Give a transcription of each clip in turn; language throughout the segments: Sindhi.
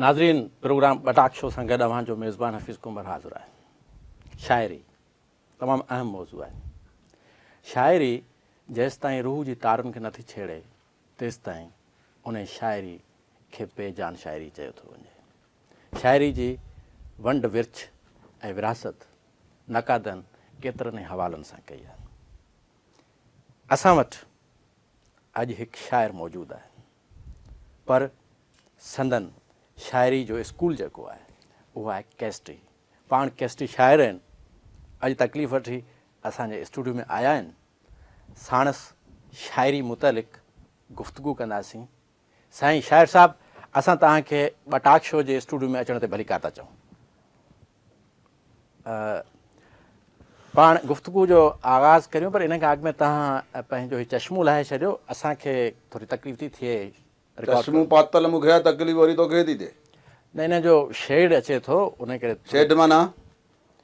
ناظرين پروگرام ٻٽاڪ شو سان گڏ اوهان جو ميزبان حفيظ ڪنڀر حاضر آهي شاعري تمام اهم موضوع آهي شاعري جيستائين روح جي تارن کي نٿي ڇيڙي تيستائين ان شاعري کي بي جان شاعري چيو ٿو وڃي شاعري جي ونڊ ورڇ ۽ وراثت نقادن ڪيترن ئي حوالن سان ڪئي آهي اسان وٽ اڄ هڪ شاعر موجود آهي پر سندن شاعري جو اسڪول جيڪو آهي اهو آهي ڪيسٽي. پاڻ ڪيسٽي شاعر آهن. اڄ تڪليف وٺي اسان جي اسٽوڊيو ۾ آيا آهن. ساڻس شاعري متعلق گفتگو ڪنداسين. سائين شاعر صاحب اسان توهان کي ٻه ٽاڪ شو جي اسٽوڊيو ۾ اچڻ تي ڀليڪار ٿا چئون. پاڻ گفتگو جو آغاز ڪريون پر ان کان اڳ ۾ توهان پنهنجو هي چشمو لاهي ڇڏيو اسان کي ٿوري تڪليف ٿي ٿئي. چشمو پاتل مون کي آ تڪليف وري توکي ٿي ٿئي. نه ان جو شيڊ اچي ٿو ان ڪري. شيڊ معنيٰ؟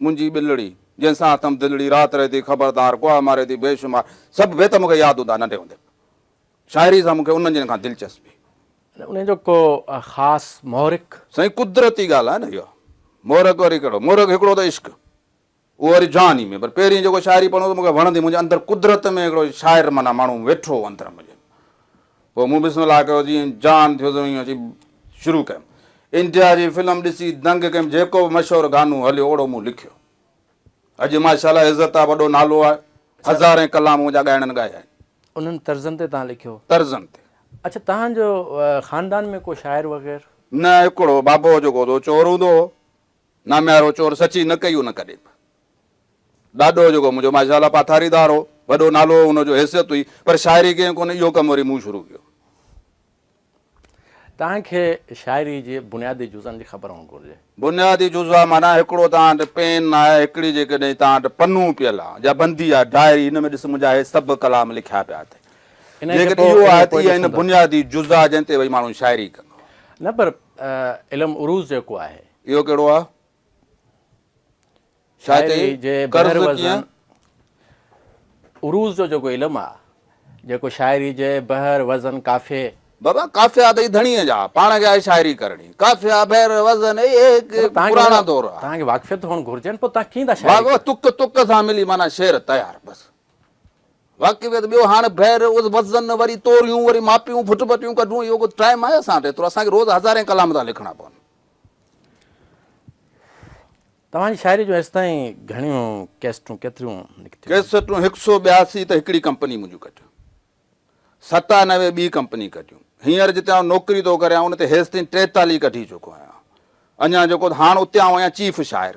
منهنجي ٻلڙي، جنهن سان اٿم دلڙي، رات رهي ٿي خبردار، ڪوئا ماري ٿي بي شمار، سڀ بيت مون کي ياد هوندا ننڍي هوندي به شاعري سان مون کي انهن جن کان دلچسپي. انهن جو ڪو خاص محرڪ؟ سائين قدرتي ڳالهه آهي نه اها، محرڪ وري ڪهڙو، محرڪ هڪڙو ته عشق، اهو وري جواني ۾ پر پهرين جيڪو شاعري پڙهندو مون کي وڻندي، منهنجي اندر قدرت ۾ هڪڙو شاعر معنيٰ ماڻهو ويٺو هو اندر منهنجي، پوء مون بسم الله ڪيو جيئن جان ٿيو تيئن اچي شروع ڪيم انڊيا جي فلم ڏسي دنگ ڪيم جيڪو به مشهور گانو هليو اوڙو مون لکيو اڄ ماشاء الله عزت آ وڏو نالو آ هزارين ڪلام منهنجا ڳائڻن ڳايا آهن. انهن طرزن تي توهان لکيو؟ طرزن تي. اڇا توهان جو خاندان ۾ ڪو شاعر وغير؟ نه هڪڙو بابو جيڪو هوندو هو چور هوندو هو ناميارو چور سچي نه ڪئي هن ڪڏهن به. ڏاڏو جيڪو منهنجو ماشاء الله پاٿاريدار هو، وڏو نالو هو، ان جو حيثيت هئي، پر شاعري ڪيائين ڪونه، اهو ڪم وري مون شروع ڪيو. توهان کي شاعري جي بنيادي جزن جي خبر هئڻ گهرجي. بنيادي جزا معنيٰ هڪڙو توهان وٽ پين آهي، هڪڙي جيڪڏهن توهان وٽ پنو پيل آهي يا بندي آهي، ڊائري، ان ۾ ڏس منهنجا هي سڀ ڪلام لکيا پيا اٿئي. جيڪڏهن اهو آهي ته اها هن بنيادي جزا جنهن تي وئي ماڻهو شاعري ڪندو. نه پر علم عروض جيڪو آهي. اهو ڪهڙو آهي؟ شاعري جي بحر وزن عروض جو جيڪو علم آ جيڪو شاعري جي بحر وزن قافي بابا قافيا تي ڌڻي جا پاڻ کي آهي شاعري ڪرڻي قافيا بحر وزن اي هڪ پراڻا دور آ تان کي واقفيت هون گهرجي پو تان ڪين دا شاعري بابا تڪ تڪ سان ملي معنی شعر تيار بس واقفيت ٻيو هاڻ بحر اس وزن وري توريون وري ماپيون ڦٽ ڦٽيون ڪڍون اهو ڪو ٽائيم آهي اسان ته اسان کي روز هزارين ڪلام ٿا لکڻا پون توهان جي شاعري جون ايستائين گهڻيون ڪيسٽون ڪيتريون نڪتيون؟ ڪيسٽون هڪ سو ٻياسي ته هڪڙي ڪمپني منهنجون ڪٽيون. ستانوي ٻي ڪمپني ڪٽيون. هينئر جتي آئون نوڪري ٿو ڪريان ان تي هيستائين ٽيتالهه ڪڍي چڪو آهيان. اڃا جيڪو ته هاڻ اتي آئون آهيان چيف شاعر.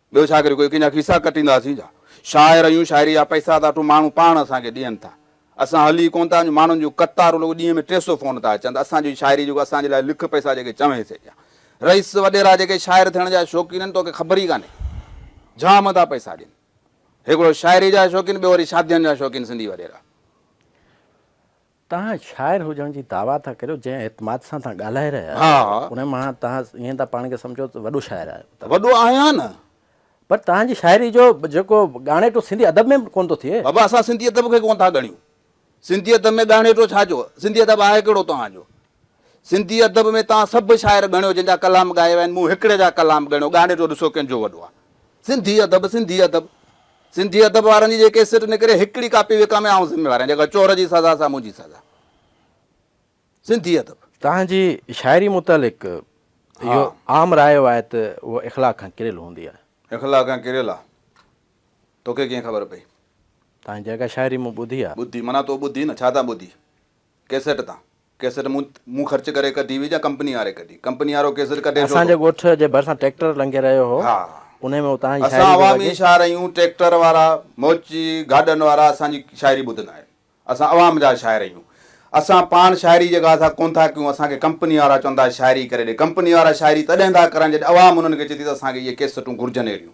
ٻيو ڇا ڪريون، ڪوئي ڪنهن جا فيسا ڪٽينداسين ڇا؟ شاعر آهيون، شاعريء جا پئسا ته اٺون ماڻهو پاڻ اسان کي ڏين ٿا. اسان هلي ئي ڪونه ٿا سگهون، ماڻهن جون قطارون رڳو ڏينهن ۾ ٽي سؤ فون ٿا اچن ته اسان جو ئي شاعري جيڪو اسان جي لاء لک پئسا جيڪي چوين سي ڏيان. رئيس وڏيرا جيڪي شاعر ٿيڻ جا شوقين آهن، توکي خبر ئي ڪانهي. جام ٿا پئسا ڏين. هڪڙو شاعري جا شوقين، ٻيو وري شادين جا شوقين سنڌي وڏيرا. توهان شاعر هجڻ جي دعويٰ ٿا ڪريو، جنهن اعتماد سان توهان ڳالهائي رهيا آهيو، ان مان توهان ائين ٿا پاڻ کي سمجهو ته وڏو شاعر آهيو. وڏو آهيان نه. پر توهان جي شاعري جو جيڪو ڳاڻيٽو سنڌي ادب ۾ به ڪونه ٿو ٿئي. بابا اسان سنڌي ادب کي ڪونه ٿا ڳڻيون. سنڌي ادب ۾ ڳاڻيٽو ڇا جو؟ سنڌي ادب آهي ڪهڙو توهان جو؟ سنڌي ادب ۾ توهان سڀ شاعر ڳڻيو جن جا ڪلام ڳايا ويا آهن، مون هڪڙي جا ڪلام ڳڻيو، ڳاڻي جو ڏسو ڪنهن جو وڏو آهي. سنڌي ادب، سنڌي ادب. سنڌي ادب وارن جي جيڪي سٽ نڪري، هڪڙي ڪاپي وڪامي آئون ذميوار آهيان، جيڪا چور جي سزا سا منهنجي سزا. سنڌي ادب. توهان جي شاعري متعلق اهو عام راء آهي ته هوء اخلاق کان ڪريل هوندي آهي. اخلاق کان ڪريل آهي. توکي ڪيئن خبر پئي؟ توهان جي جيڪا شاعري مون ٻڌي آهي. ٻڌي معنيٰ تو ٻڌي نه، ڇا تان ٻڌي؟ ڪيسيٽ تان ڪيسيٽ مون مون خرچ ڪري ڪڍي هئي جا ڪمپني واري ڪڍي ڪمپني وارو ڪيسيٽ ڪڍي ڇو اسان جي ٿو ڳوٺ جي ڀرسان ٽريڪٽر لنگهي رهيو هو ها انهي ۾ اتان جي اسان شاعري پئي عوامي وڄي. شاعر آهيون ٽريڪٽر وارا موچي گاڏن وارا اسان جي شاعري ٻڌندا آهن اسان عوام جا شاعر آهيون اسان پاڻ شاعري جي ڳالهه ٿا ڪونه ٿا ڪيون اسان کي ڪمپني وارا چون ٿا شاعري ڪري ڏي ڪمپني وارا شاعري تڏهن ٿا ڪرن جڏهن عوام انهن کي چئي ٿي ته اسان کي اهي ڪيسيٽون گهرجن اهڙيون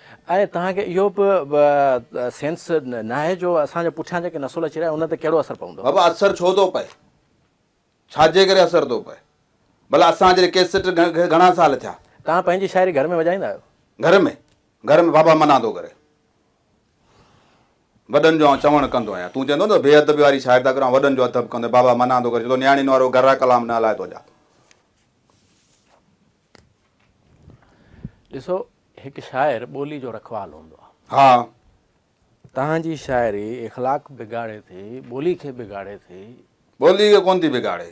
۽ توهان کي اهو به سينس ناهي جو اسان جا پٺيان جيڪي نسل اچي رهيا ان تي ڪهڙو اثر پوندو. بابا اثر ڇو ٿو پئي؟ ڇا جي ڪري اثر ٿو پئي؟ ڀلا اسان جهڙي ڪيسٽ کي گهڻا سال ٿيا؟ توهان پنهنجي شاعري گهر ۾ وڄائيندا آهيو؟ گهر ۾؟ گهر ۾ بابا منع ٿو ڪري. وڏن جو آئون چوڻ ڪندو آهيان. تون چوندو نه بي ادبي واري شاعري ٿا ڪريو آئون وڏن جو ادب ڪندو آهيان. بابا منع ٿو ڪري چوي ٿو نياڻين وارو گهرا ڪلام نه هلائي تو جا. ڏسو هڪ شاعر ٻولي جو رکوال هوندو آ. ها توهان جي شاعري اخلاق بگاڙي ٿي ٻولي کي بگاڙي ٿي. ٻولي کي ڪونه ٿي بگاڙي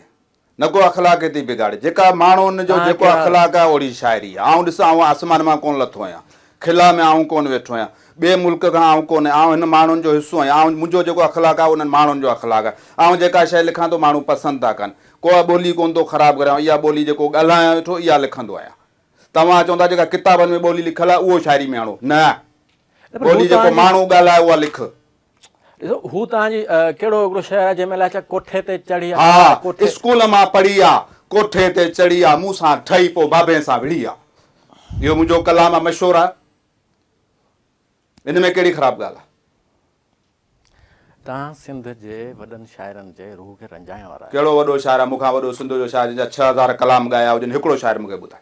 نه ڪو اخلاق کي ٿي بگاڙي جيڪا ماڻهون جو جيڪو اخلاق آ اوڙي شاعري آ آئون ڏس آئون آسمان مان ڪونه لٿو آهيان خلا ۾ آئون ڪونه ويٺو آهيان. ٻئي ملڪ کان آئون ڪونه. آئون هن ماڻهن جو حصو آهيان. آئون منهنجو جيڪو اخلاق آهي اهو انهن ماڻهن جو اخلاق آهي. آئون جيڪا شيء لکان ٿو ماڻهو پسند ٿا ڪن. ڪو ٻولي ڪونه ٿو خراب ڪريان. آئون اها ٻولي جيڪو ڳالهايان ويٺو اها لکندو آهيان. توهان چئو ٿا جيڪا ڪتابن ۾ ٻولي لکيل آهي اهو شاعري ۾ آڻو. نه. ٻولي جيڪو ماڻهو ڳالهائي اها لک. ڏسو هو توهان جي ڪهڙو هڪڙو شهر آهي جنهن ۾ الائي ڇا ڪوٺي تي چڙهي آ. ها اسڪول مان پڙهي آ. ڪوٺي تي چڙهي آ. مون سان ٺهي پوء بابين سان وڙهي آ. اهو منهنجو ڪلام آ مشهور آ. ان ۾ ڪهڙي خراب ڳالهه آ. توهان سنڌ جي وڏن شاعرن جي روح کي رنجائڻ وارا آهيو. ڪهڙو وڏو شاعر آ. مون کان وڏو سنڌ جو شاعر جنهن جا ڇهه هزار ڪلام ڳايا هجن هڪڙو شاعر مون کي ٻڌاء.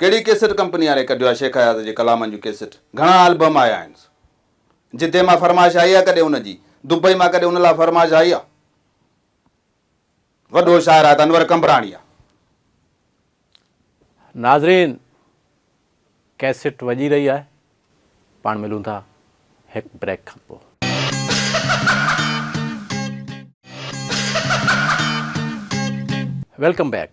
ڪهڙي ڪيسٽ ڪمپني واري ڪڍيو آهي شيخ اياز جي ڪلامن جون ڪيسٽ گهڻا البم آيا آهن جدي مان فرمائش آئي آهي ڪڏهن ان جي دبئي مان ڪڏهن ان لاء فرمائش آئي آهي وڏو شاعر آهي ته انور قمبراڻي آهي. ناظرين ڪيسٽ وڄي رهي آهي پاڻ ملون ٿا هڪ بريڪ کان پوء. Welcome back.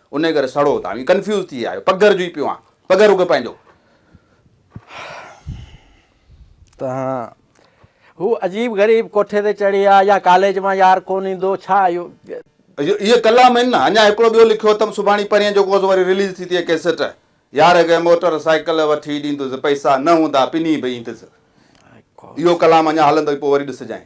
انهيء ڪري سڙو اتان ويو. ڪنفيوز ٿي آيو. پگهر جو ئي پيو آهيان. پگهر رڳو پنهنجو. تنهن هو عجيب غريب ڪوٺي تي چڙهي آ يا ڪاليج مان يار ڪونه ايندو ڇا اهو. اهي ڪلام آهن نه. اڃا هڪڙو ٻيو لکيو اٿم سڀاڻي پرينء جو ڪوس وري رليز ٿي تيئن ڪيسٽ. يار اڳهين موٽر سائيڪل وٺي ڏيندس پئسا نه هوندا پني به ايندس. اهو ڪلام اڃا هلندو ئي پوء وري ڏسجانء.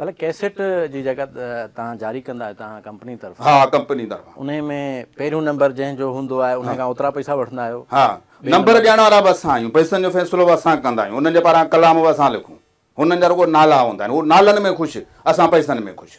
بلڪ ڪيسيٽ جي جيڪا توهان جاري ڪندا آهيو توهان ڪمپني طرفان ها ڪمپني طرفان انهي ۾ پهريون نمبر جنهن جو هوندو آهي انهي کان اوترا پئسا وٺندا آهيو ها نمبر ڏيڻ وارا به اسان آهيون پئسن جو فيصلو به اسان ڪندا آهيون انهن جي پاران ڪلام به اسان لکون هنن جا رڳو نالا هوندا آهن هو نالن ۾ خوش اسان پئسن ۾ خوش.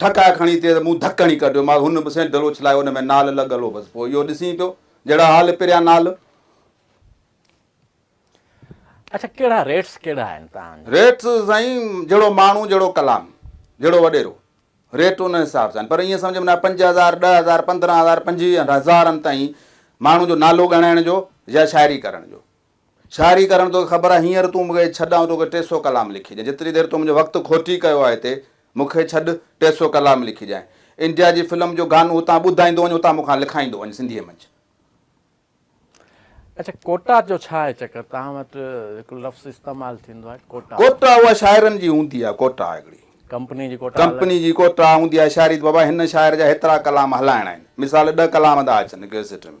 ٺڪاء کڻي تيز مون ڌڪ هڻي ڪڍيو مانس هن به سينٽل اڇلايو ان ۾ نال لڳل هو بس پوء اهو ڏسين پيو جهڙا حال پريان نال اڇا ڪهڙا ريٽس ڪهڙا آهن تهان جا. ريٽس سائين جهڙو ماڻهو جهڙو ڪلام جهڙو وڏيرو ريٽ ان حساب سان آهن پر ائين سمجهه ۾ نه پنج هزار ڏهه هزار پندرهن هزار پنجويهن هزارن تائين ماڻهو جو نالو ڳڻائڻ جو يا شاعري ڪرڻ جو شاعري ڪرڻ توکي خبر آ هينئر تون مونکي ڇڏ آئون توکي ٽي سئو ڪلام لکي ڏيان جيتري دير تو منهنجو وقت کوٽي ڪيو آ هتي مونکي ڇڏ ٽي سئو ڪلام لکي ڏيان انڊيا جي فلم جو گانو هتان ٻڌائيندو وڃ هتان مونکان لکائيندو وڃ سنڌيء منجهه. اڇا ڪوٽا جو ڇا آهي چڪر توهان وٽ هڪڙو لفظ استعمال ٿيندو آهي ڪوٽا. ڪوٽا اها شاعرن جي هوندي آهي ڪوٽا هڪڙي. ڪمپني جي ڪوٽا الڳ. ڪمپني جي ڪوٽا هوندي آهي شاعري ته بابا هن شاعر جا هيترا ڪلام هلائڻا آهن مثال ڏهه ڪلام ٿا اچن ڪيسٽ ۾.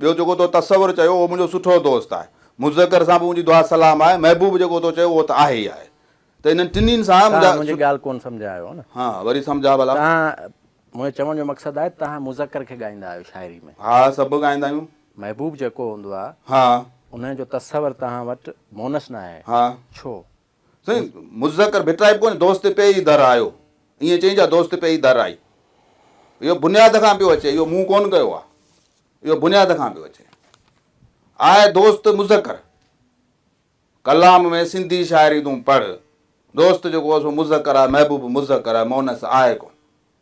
ٻيو جيڪو تو تصور چيو اهو منهنجو سٺو دوست آهي. مذڪر سان به منهنجي دعا سلام آهي. محبوب جيڪو تو چيو اهو ته آهي ئي آهي. ته انهن ٽنهين سان منهنجا توهان منهنجي ڳالهه ڪونه سمجهيا آهيو نه. ها وري سمجهاء ڀلا. توهان منهنجي چوڻ جو مقصد آهي توهان مذڪر کي ڳائيندا آهيو شاعري ۾. ها سڀ ڳائيندا آهيون. محبوب جيڪو هوندو آهي. ها. انهن جو تصور توهان وٽ مونث نه آهي. ها. ڇو؟ سائين مذڪر ڀٽرائي به ڪونهي دوست پئي ئي در آيو ائين چئي جا دوست پئي ئي در آئي اهو بنياد کان پيو اچي اهو مون ڪونه ڪيو آهي اهو بنياد کان پيو اچي آء دوست مذڪر ڪلام ۾ سنڌي شاعري تون پڙھ دوست جيڪو سو مذڪر آهي محبوب مذڪر آهي مونس آهي ڪون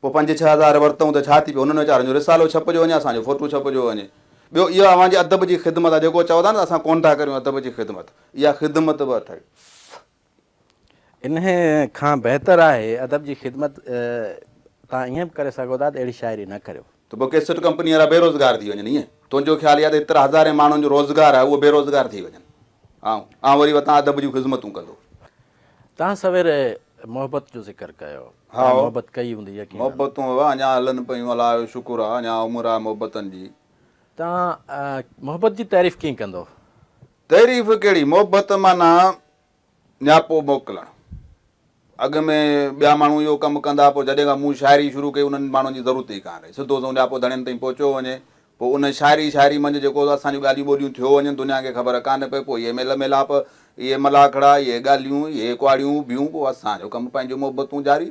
پوء پنج ڇهه هزار ورتئون ته ڇا ٿي پيو، انهن ويچارن جو رسالو ڇپجيو وڃي، اسان جو فوٽو ڇپجيو وڃي. ٻيو اها اوهان جي ادب جي خدمت آهي، جيڪو چئو ٿا نه ته اسان ڪونه ٿا ڪريون ادب جي خدمت، اها خدمت به اٿئي. انهيء کان بهتر آهي ادب جي خدمت تان ائين به ڪري سگهو ٿا ته اهڙي شاعري نه ڪريو. ته پوء ڪيسٽ ڪمپني وارا بيروزگار ٿي وڃن ائين تنهنجو خيال اهي آهي ته ايترا هزارين ماڻهن جو روزگار آهي اهو بيروزگار ٿي وڃن آئون آئون وري وتان ادب جون خذمتون ڪندو. تان سوير محبت جو ذڪر ڪيو تان محبت ڪئي هوندي يقينن. محبتون اهي اڃا هلن پيون الله جو شڪر آهي اڃا عمر آهي محبتن جي. تان محبت جي تعريف ڪيئن ڪندو. تعريف ڪهڙي محبت معنيٰ نياپو موڪلڻ. اڳ ۾ ٻيا ماڻهو اهو ڪم ڪندا، پوء جڏهن کان مون شاعري شروع ڪئي، انهن ماڻهن جي ضرورت ئي ڪانه رهي. سڌو سنئون نياپو ڌڻين تائين پهچيو وڃي. پوء ان شاعري شاعري منجهه جيڪو اسان جون ڳالهيون ٻولهيون ٿيو وڃن، دنيا کي خبر ڪانه پئي. پوء اهي ميل ميلاپ، اهي ملاکڙا، اهي ڳالهيون، اهي ڪهاڙيون، اهي ڀيون، پوء اسان جو ڪم، پنهنجون محبتون جاري.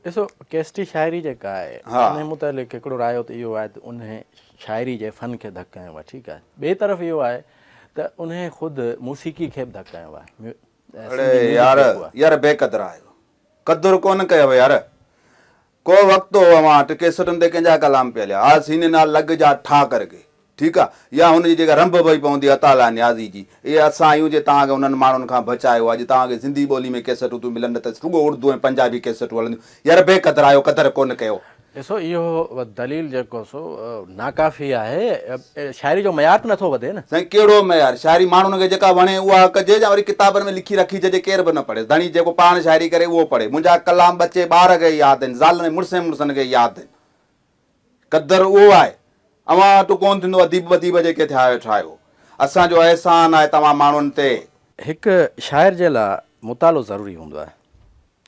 ڏسو ڪيسٽي شاعري جيڪا آهي انهي متعلق هڪڙو رايو ته اهو آهي ته انهي شاعري جي فن کي ڌڪ هنيو آهي ٺيڪ آهي ٻي طرف اهو آهي ته انهي خود موسيقي کي به ڌڪ هنيو آهي اڙي يار يار بي قدر آهيو قدر ڪونه ڪيو يار ڪو وقت هو اوهان وٽ ڪيسٽن تي ڪنهن جا ڪلام پيا هليا ها سيني نال لڳ جا ٺا ڪر ڪي ٺيڪ آ يا هن جي جيڪا رنڀ پئي پوندي عطا الله نيازي جي اهي اسان آهيون جي توهان کي انهن ماڻهن کان بچايو اڄ توهان کي سنڌي ٻولي ۾ ڪيسٽون ٿيون ملن نه ته رڳو اڙدو ۽ پنجابي ڪيسٽون هلنديون يار بي قدر آهيو قدر ڪونه ڪيو. ڏسو اهو دليل جيڪو سو ناڪافي آهي. شاعري جو معيار ته نٿو وڌي نه. سائين ڪهڙو معيار؟ شاعري ماڻهن کي جيڪا وڻي اها ڪجي يا وري ڪتابن ۾ لکي رکجي جي ڪير به نه پڙهيس. ڌڻي جيڪو پاڻ شاعري ڪري اهو پڙهي. منهنجا ڪلام ٻچي ٻار کي ياد آهن، زالن ۽ مڙسين مڙسن کي ياد آهن. قدر اهو آهي. اوهان وٽ ڪونه ٿيندو اديب ٻديب جيڪي ٿيا ويٺا آهيو. اسان جو احسان آهي توهان ماڻهن تي. هڪ شاعر جي لاء مطالعو ضروري هوندو آهي.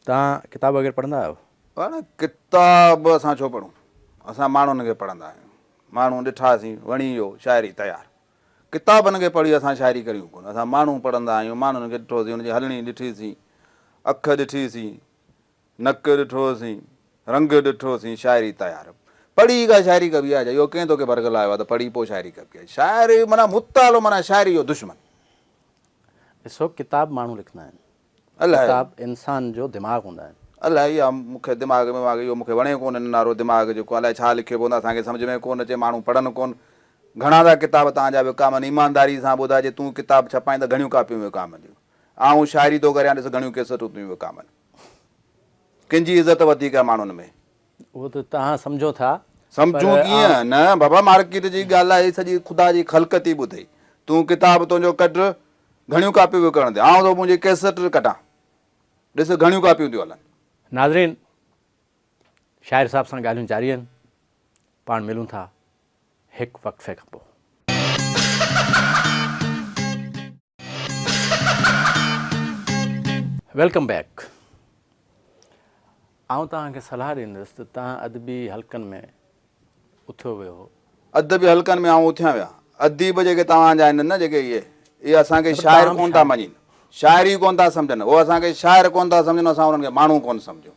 توهان ڪتاب وغيره پڙهندا آهيو؟ ڪتاب اسان ڇو پڙهون. اسان ماڻهن کي پڙهندا آهيون. ماڻهو ڏٺا سين، وڻي ويو، شاعري تيار. ڪتابن کي پڙهي اسان شاعري ڪريون ڪونه، اسان ماڻهو پڙهندا آهيون، ماڻهن کي ڏٺو سين، ان جي هلڻي ڏٺي سين، اک ڏٺي سين، نڪ ڏٺو سين، رنگ ڏٺو سين، شاعري تيار. پڙهي ئي ڪا شاعري ڪبي آهي ڇا؟ اهو ڪنهن توکي برغلايو آهي ته پڙهي پوء شاعري ڪبي آهي. شاعري معنيٰ مطالعو معنيٰ شاعري جو دشمن. ڏسو ڪتاب ماڻهو لکندا آهن. ڪتاب انسان جو دماغ هوندا آهن. الاهي اها مون کي دماغ ۾ واڳي اهو مون کي وڻي ڪونه ننارو دماغ جيڪو الاهي ڇا لکيو پوندو اسان کي سمجهه ۾ ڪونه اچي ماڻهو پڙهن ڪون گهڻا ٿا ڪتاب تان جا وڪامن ايمانداري سان ٻڌاء جي تون ڪتاب ڇپائين ته گهڻيون ڪاپيون وڪامنديون آئون شاعري ٿو ڪريان ڏس گهڻيون ڪيسٽون ٿيون وڪامن ڪنهن جي عزت وڌيڪ آهي ماڻهن ۾. اهو ته توهان سمجهو ٿا. سمجهون ڪيئن نه بابا مارڪيٽ جي ڳالهائي سڄي خدا جي خلق ٿي ٻڌئي تون ڪتاب تنهنجو ڪڍ گهڻيون ڪاپيون وڪڻڻ تي آئون ٿو منهنجي ڪيسٽ ڪڍان ڏس گهڻيون ڪاپيون ٿيون هلن. ناظرين شاعر صاحب سان ڳالهيون جاري آهن پاڻ ملون ٿا. هڪ وقفي کان پوء. ويلڪم بيڪ آئون توهان کي صلاح ڏيندس ته توهان ادبي حلقن ۾ اٿيو ويهو. ادبي حلقن ۾ آئون اٿيان ويا. اديب جيڪي توهان جا آهن نه جيڪي اهي اهي اسان کي شاعر ڪونه ٿا مڃين شاعر ئي ڪونه ٿا سمجهن اهو اسان کي شاعر ڪونه ٿا سمجهن اسان انهن کي ماڻهو ڪونه سمجهون.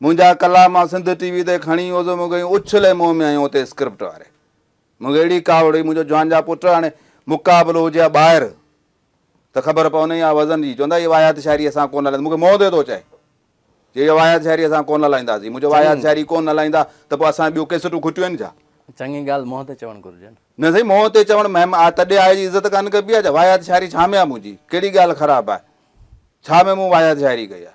منهنجا ڪلا مان سنڌ ٽي وي تي کڻي ويو سو مونکي اڇلي منهن ۾ هنيو اتي اسڪرپٽ واري مونکي اهڙي ڪاوڙ هئي منهنجو جوان جا پٽ هاڻي مقابلو هجي ها ٻاهر ته خبر پوندي ها وزن جي چوندا هي واهيات شاعري اسان ڪون هلائينداسين مونکي موت ٿو چئي جي هي واهيات شاعري اسان ڪون هلائينداسين منهنجو واهيات شاعري ڪون هلائيندا ته پوء اسان ٻيو ڪيسٽون کٽيون آهن ڇا چڱي ڳالهه منهن تي چوڻ گهرجي نه. نه سائين منهن تي چوڻ مهم آ تڏي آء جي عزت ڪانه ڪبي آ ڇا واهيات شاعري ڇا ۾ آ منهنجي ڪهڙي ڳالهه خراب آ ڇا ۾ مون واهيات شاعري ڪئي آ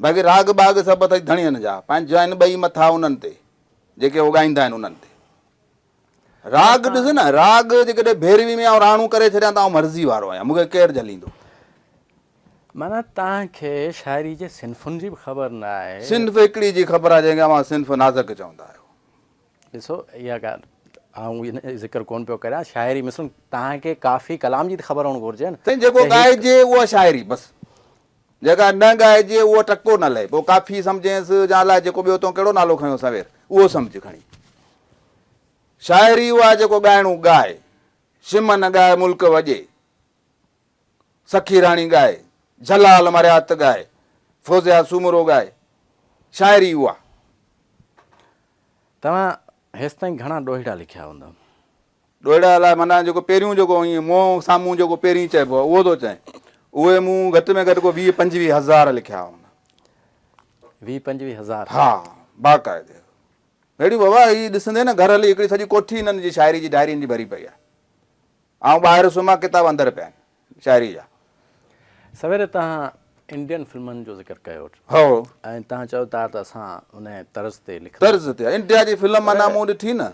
باقي راڳ ٻاڳ سڀ اٿئي ڌڻين جا، پنهنجا آهن ٻئي مٿا انهن تي، جيڪي هو ڳائيندا آهن انهن تي. راڳ ڏس نه، راڳ جيڪڏهن ڀيروي ۾ آئون راڻو ڪري ڇڏيان ته آئون مرضي وارو آهيان، مون کي ڪير جهليندو؟ معنيٰ توهان کي شاعري جي صنفن جي به خبر نه آهي. صنف هڪڙي جي خبر آهي، جنهن کي اوهان صنف نازڪ چوندا آهيو. ڏسو، اها ڳالهه آئون ان جو ذڪر ڪونه پيو ڪريان، شاعري مثلاً توهان کي ڪافي ڪلام جي ته خبر هئڻ گهرجي نه. سائين جيڪو ڳائجي اها شاعري بس. جيڪا نه ڳائجي اهو ٽڪو نه لهي. پوء ڪافي سمجهينس جا الاء جيڪو ٻيو تون ڪهڙو نالو کنيو سوير اهو سمجهه کڻي. شاعري اها جيڪو ڳائڻو ڳائي. شم نه ڳائي ملڪ وڄي. سخي راڻي ڳائي. جلال مرهيات ڳائي. فوزيا سومرو ڳائي. شاعري اها. توهان هيستائين گهڻا ڏوهيڙا لکيا هوندا. ڏوهيڙا الاء معنيٰ جيڪو پهريون جيڪو ائين منهن سامهون جيڪو پهرين چئبو آهي اهو ٿو چئين. اهي مون گهٽ ۾ گهٽ ڪو ويهه پنجويهه هزار لکيا هئا. ويهه پنجويهه هزار؟ ها باقاعدي. اهڙيون بابا هي ڏسندين نه گهر هلي هڪڙي سڄي ڪوٺي هنن جي شاعري جي ڊائرين جي ڀري پئي آهي. آئون ٻاهر سمهان ڪتاب اندر پيا آهن شاعري جا. سويري توهان انڊين فلمن جو ذڪر ڪيو. هو. ۽ توهان چيو ته اسان انهيء طرز تي لکنداسين. طرز تي. انڊيا جي فلم معنيٰ مون ڏٺي نه.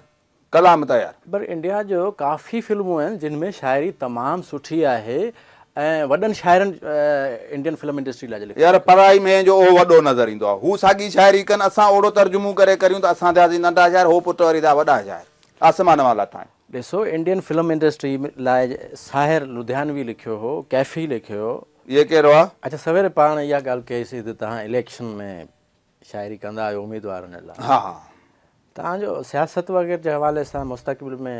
ڪلام تيار. پر انڊيا جو ڪافي فلمون آهن جن ۾ شاعري تمام سٺي آهي ۽ وڏن شاعرن انڊين فلم انڊسٽري لاء جو لکيو يار پرائي ميين جو اهو وڏو نظر ايندو آهي هو ساڳي شاعري ڪن اسان اوڙو ترجمون ڪري ڪريون ته اسان ٿياسين ننڍا شاعر هو پٽ وري ٿيا وڏا شاعر آسمان مان لاٿا آهن. ڏسو انڊين فلم انڊسٽري لاء ساحر لڌيانوي لکيو هو ڪيفي لکيو هو. هيء ڪهڙو آهي؟ اچا سويري پاڻ اها ڳالهه ڪئي سي ته تهان اليڪشن ۾ شاعري ڪندا آهيو اميدوارن لاء ها ها توهان جو سياست وغيره جي حوالي سان مستقبل ۾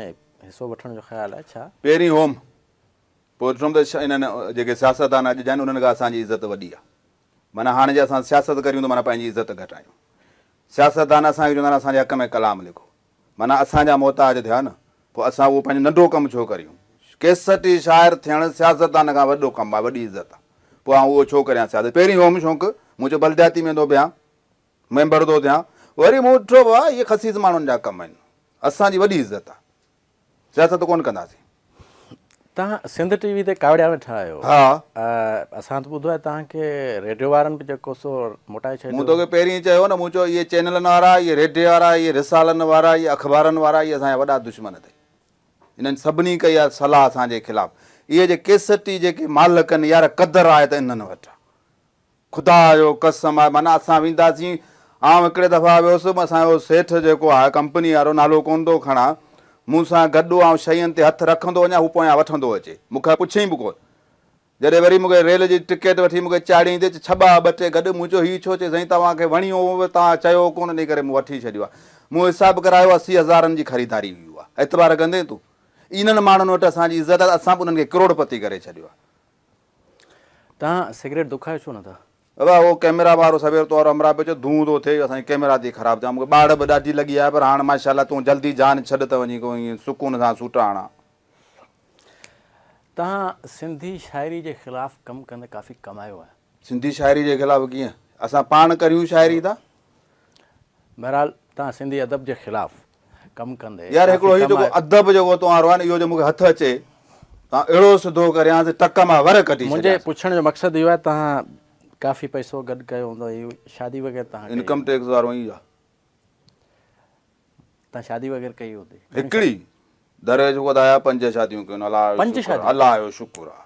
حصو وٺڻ جو خيال آهي ڇا؟ پهرين هوم پوء ڏٺم ته انهن جيڪي سياستدان اڄ جا آهن انهن کان اسان جي عزت وڏي آهي معنيٰ هاڻي جي اسان سياست ڪريون ته معنيٰ پنهنجي عزت گهٽايون سياستدان اسان کي چوندا آهن اسان جي حق ۾ ڪلام لکو معنيٰ اسان جا محتاج ٿيا نه، پوء اسان اهو پنهنجو ننڍو ڪم ڇو ڪريون؟ ڪيسٽ جي شاعر ٿيڻ سياستدان کان وڏو ڪم آهي، وڏي عزت آهي، پوء آئون اهو ڇو ڪريان سياست؟ پهرين هوم شونق، مون چيو بلدياتي ۾ ٿو بيهان، ميمبر ٿو ٿيان، وري مون ڏٺو واهه اهي خسيس ماڻهن جا ڪم آهن، اسان جي وڏي عزت آهي، سياست ڪونه ڪنداسين. توهان سنڌ ٽي وي تي ڪاوڙيا ويٺا آهيو. ها. اسان ته ٻڌو آهي توهان کي ريڊيو وارن به جيڪو سو موٽائي ڇڏيو. مون توکي پهرين ئي چيو نه مون چيو اهي چينلن وارا، اهي ريڊيو وارا، اهي رسالن وارا، اهي اخبارن وارا اهي اسان جا وڏا دشمن اٿئي. انهن سڀني ڪئي آهي صلاح اسان جي خلاف. اهي جي ڪيسٽي جيڪي مالڪن يار قدر آهي ته انهن وٽ آهي. خدا جو قسم آهي معنيٰ اسان وينداسين آئون هڪڙي دفعا ويس هوم اسان جو سيٺ جيڪو آهي ڪمپني وارو نالو ڪونه ٿو کڻان مون سان گڏ هو آئون شين تي هٿ رکندو وڃان هو پويان وٺندو اچي مون کان پڇيئين به ڪونه جڏهن وري مون کي ريل جي ٽڪيٽ وٺي مون کي چاڙهيئين تي چي ڇٻا ٻه ٽي گڏ مون چيو هي ڇو چي سائين توهان کي وڻيو هو توهان چيو ڪونه انهي ڪري مون وٺي ڇڏيو آهي مون حساب ڪرايو اسي هزارن جي خريداري هئي اها اعتبار ڪندين تون انهن ماڻهن وٽ اسان جي عزت آهي ته اسان به انهن کي ڪروڙ پتي ڪري ڇڏيو آهي تهان سگريٽ دکايو ڇو نه ٿا. دادا اهو ڪئميرا وارو سوير تو وارو همراهه پيو چئي ڌونء ٿو ٿئي اسان جي ڪئميرا ٿي خراب چيان مون کي ٻاڙهه به ڏاڍي لڳي آهي پر هاڻ ماشاءالله تون جلدي جان ڇڏ ته وڃي ڪو ائين سڪون سان سوٽا هڻان. تهان سنڌي شاعري جي خلاف ڪم ڪندي ڪافي ڪمايو آهي. سنڌي شاعري جي خلاف ڪيئن اسان پاڻ ڪريون شاعري ته بهرحال توهان سنڌي ادب جي خلاف ڪم ڪندي. يار هڪڙو هي جيڪو ادب جيڪو توهان روئان اهو جي مونکي هٿ اچي توهان اهڙو سڌو ڪريان ته ٽڪ مان ور ڪڍي ڇڏيان. منهنجي پڇڻ جو مقصد اهو آهي توهان ڪافي پئسو گڏ ڪيو هوندو ۽ شادي وغيره توهان ڪئي. انڪم ٽيڪس وارو ايئن ئي آهي. توهان شادي وغيره ڪئي هوندي. هڪڙي. درويش خدا جا پنج شاديون ڪيون الاهه جو شڪر الاهه جو شڪر آهي.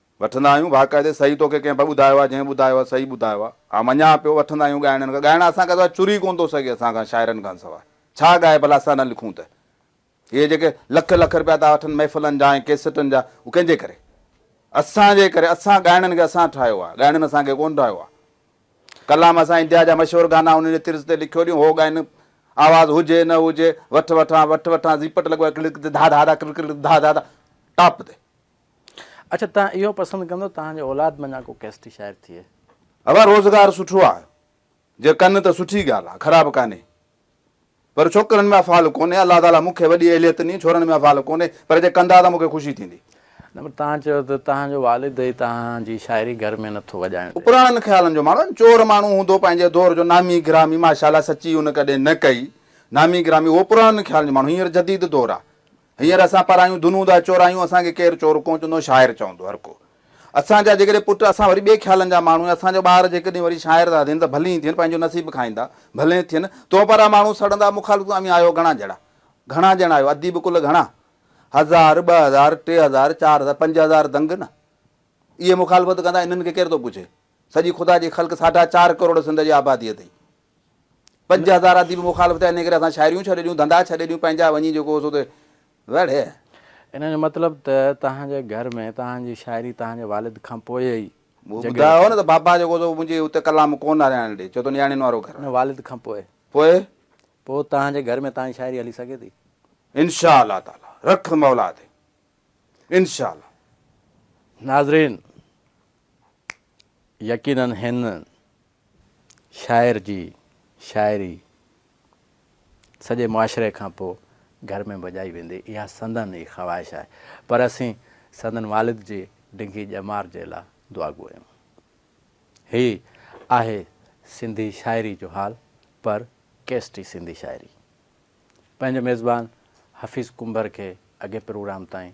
وٺندا آهيون باقاعدي صحيح توکي ڪنهن به ٻڌايو آهي جنهن ٻڌايو آهي صحيح ٻڌايو آهي آء مڃان پيو وٺندا آهيون ڳائڻين کان ڳائڻ اسان کان سواء چري ڪونه ٿو سگهي اسان کان شاعرن کان سواء ڇا ڳائي ڀلا اسان نه لکون ته اهي جيڪي لک لک رپيا ٿا وٺن محفلن جا ۽ ڪيسٽن جا اهو ڪنهن جي ڪري اسان جي ڪري اسان ڳائڻين کي اسان ٺاهيو آهي ڳائڻين اسان کي ڪونه ٺاهيو آهي ڪلام اسان انتها جا مشهور گانا انهن جي طرز تي لکيو ڏيون هو ڳائين آواز هجي نه هجي وٺ وٺان وٺ وٺان زيپٽ لڳو آهي ڪلڪ تي ڌا ڌا ڌا ڪلڪ ڪلڪ ڌا ڌا ڌا ٽاپ تي. اڇا توهان اهو پسند ڪندو توهان جي اولاد مان اڃا ڪو ڪيسٽي شاعر ٿئي. اوا روزگار سٺو آ جي ڪن ته سٺي ڳالھ آ خراب ڪانهي پر ڇوڪرن ۾ افعال ڪونهي الله تعالي مونکي وڏي اهليت ڏني ڇورن ۾ افعال ڪونهي پر جي ڪندا ته مونکي خوشي ٿيندي. نه پر توهان چيو ته توهان جو والد ئي توهان جي شاعري گهر ۾ نٿو وڄائڻ ڏي. پراڻن خيالن جو ماڻهو چور ماڻهو هوندو پنهنجي دور جو نامي گرامي ماشاءالله سچي ان ڪڏهن نه ڪئي نامي گرامي اهو پراڻن خيالن جو ماڻهو هينئر جديد دور آ. هينئر اسان پرايون ڌنون ٿا چورايون، اسان کي ڪير چور ڪونه چوندو، شاعر چوندو هر ڪو. اسان جا جيڪڏهن پٽ، اسان وري ٻئي خيالن جا ماڻهو آهيون، اسان جا ٻار جيڪڏهن وري شاعر ٿا ٿين ته ڀلين ٿين، پنهنجو نصيب کائيندا، ڀلين ٿين. تو پاران ماڻهو سڙندا، مخالف اوهين آهيو گهڻا ڄڻا، گهڻا ڄڻا آهيو، اديب ڪل گهڻا، هزار، ٻه هزار، ٽي هزار، چار هزار، پنج هزار دنگ نه! اهي مخالفت ڪندا، انهن کي ڪير ٿو پڇي؟ سڄي خدا جي خلق ساڍا چار ڪروڙ سنڌ جي آبادي اٿئي، پنج هزار اديب مخالف ٿيا، انهيء ڪري اسان شاعريون ڇڏي ڏيون، ڌنڌا ڇڏي ڏيون، پنهنجا وڃي جيڪو هو سو ته وڙهي. ان جو مطلب ته توهان جي گهر ۾ توهان جي شاعري توهان جي والد کان پوء ئي جڳهه وٺي. مون ٻڌايو هو نه ته بابا جيڪو هو سو منهنجي اتي ڪلام ڪونه هلائڻ ڏي، ڇو ته نياڻين وارو گهر آهي. والد کان پوء. پوء؟ پوء توهان جي گهر ۾ توهان جي شاعري هلي سگهي ٿي؟ انشاء الله تعاليٰ. رک مولا تي. انشاء الله. ناظرين! يقينن هن شاعر جي شاعري سڄي معاشري کان پوء گهر ۾ بجائي ويندي اها سندن ئي خواهش آهي پر اسين سندن والد جي ڊگهي ڄمار جي لا دعاگو آهيون. هي آهي سنڌي شاعري جو حال پر ڪيسٽي سنڌي شاعري پنهنجو ميزبان حفيظ ڪنڀر کي اڳئين پروگرام تائين